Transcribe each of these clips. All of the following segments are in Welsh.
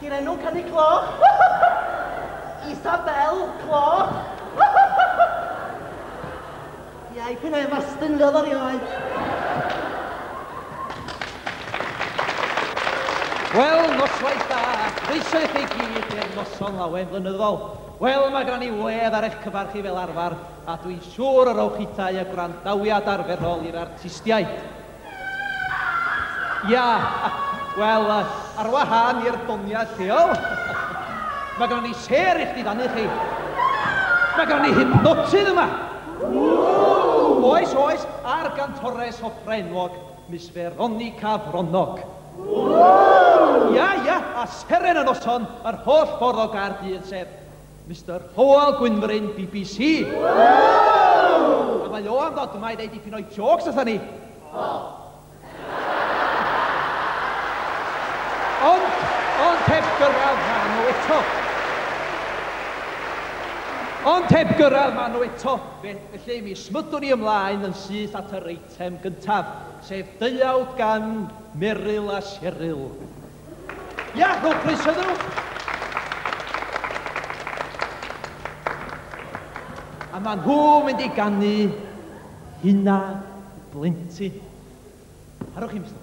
Di'r enw Canu Cloch! Isabel Cloch! Iau p'un ai fastyn iddo ddo rioed. Wel, noswaith da, croeso i chi gyd i'r noson lawen flynyddol. Wel, mae gen i wledd ar eich cyfer chi fel arfer, a dwi'n siŵr y rowch hithau y gwrandawiad arferol i'r artistiaid. Ia, wel, ar wahân i'r doniau lleol, mae gen ni sêr i chdi fannu chi. Mae gen ni hypnotydd yma. Oes, oes, a'r gantores opera enwog, Miss Veronica Fronog. Ia, ia, a seren y noson, yr holl ffordd o Gaerdydd, sef Mister Hywel Gwynfryn bbc. A mae o am ddod yma i ddeud dipyn o'i jôcs wrtha ni. Ond, ond heb gyrraedd fan nhw eto. Ond heb gyrraedd fan nhw eto, felly mi smydwn ni ymlaen yn syth at yr eitem gyntaf, sef deuawd gan Meryl a Cheryl. Iach, rhowch croeso iddyn nhw. A maen nhw mynd i gannu hynna blentyn. Harwch i'n ystod.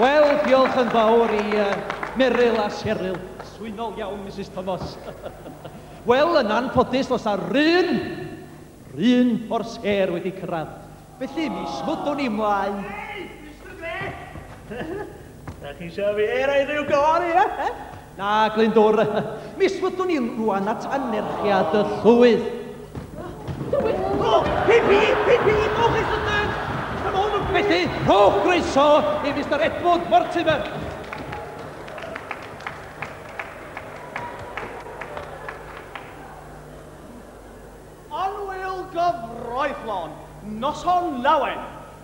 Wel, diolch yn fawr i uh, Meryl a Cheryl. Swynol iawn, Mrs Thomas. Wel, yn anffodus, os ar run, run o'r sêr wedi cyrraedd. Felly, mi smwdwn i mlaen. Hey, Mr Grey! Dach chi isio fi roi rhyw gân i fe? Na, Glyndwr. Mis fyddwn ni rwan at anerchiad y llwyth. Tywyll! O, pip i, pip i, rhowch ei sydyn! Come on, Felly, rhowch groeso i Mister Edward Mortimer. Annwyl gyfreithlon, noson lawen!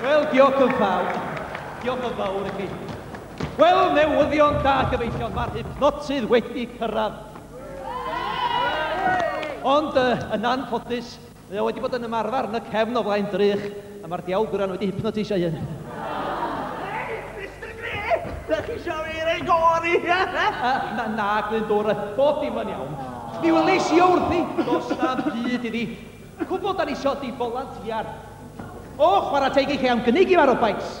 Wel, diolch yn fawr. Diolch yn fawr i chi. Wel, newyddion da gyfeillion, mae'r hypnotydd wedi cyrraedd. Ond, yn anffodus, mae o wedi bod yn ymarfer yn y cefn o flaen drych, A mae'r diawl gwran wedi hypnoteisio ei hun. Hei, Mister Grey! Dach chi isio fi roi go arni? Na, na, Glyndŵr, bob dim yn iawn. Mi welis i o wrthi, does na'm byd iddi. Cwbl 'dan ni isio 'di folantiar. O, chwarae teg i chi am gynnig i farw, Pikes.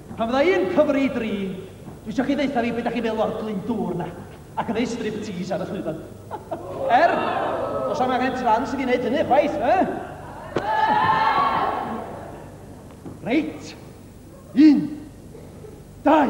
Pan fydda i'n cyfri i dri, dwi isio chi ddeutha fi be da chi'n feddwl o'r Glyndŵr na, ac yn neud striptease ar y llwyfan. Er, does am angen trans i fi wneud hynny chwaith, eh? Reit, un, dau,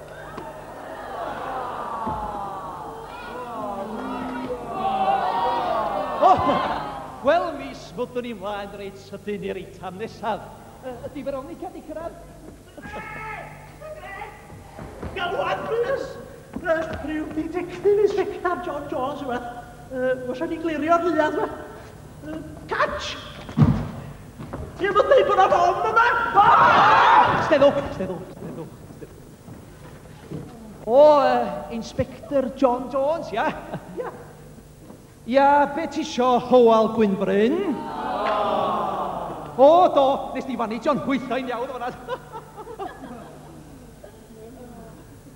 Wel, mis, fyddwn ni mlaen reit sydyn i'r eitem nesaf. Ydy Veronica di cyrraedd? Galwad, plîs! Rhyw ditectif i sector John Jones yma. Os o'n i'n glirio'r rhiad yma. Catch! Ti efo deud bod o'n ofn yma? Steddwch, steddwch, steddwch. O, uh, Inspector John Jones, ia? Ia. Ia, be ti isio, Howell Gwynbryn? O, do, nes di fannu John hwythau'n iawn o fanna.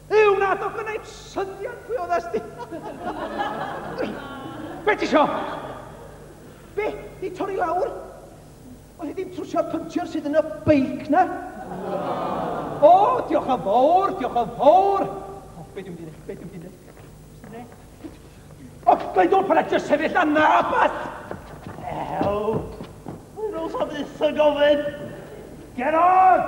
Yw, na, do gwneud syniad pwy oedd asti. Be ti isio? Be? Di torri lawr? Wel, dim trwsio'r pynciwr sydd yn y beic 'na! O, diolch yn fawr, diolch yn fawr! O, be dwi'n mynd i be dwi'n mynd i O, mae'n dod pan edrych sefyll na na, bas! Ew! Mae'n ôl sa byth yn gofyn! Get on!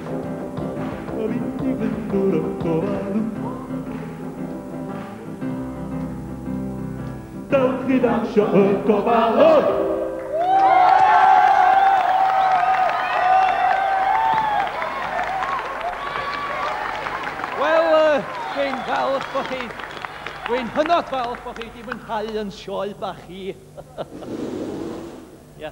Dewch i ddawnsio y gofalwr! Wel, dwi'n falch bod chi... Dwi'n hynod falch bod chi wedi mwynhau yn sioe bach i. Ia.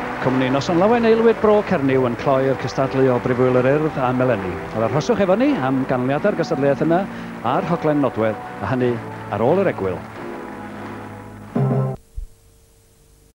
Cwmni Noson Lawen Aelwyd Bro Cernyw yn cloi'r cystadlu o Brifwyl yr Urdd am eleni. Yr arhoswch efo ni am ganlyniadau'r gystadleuaeth yna a'r rhaglen nodwedd, a hynny ar ôl yr egwyl.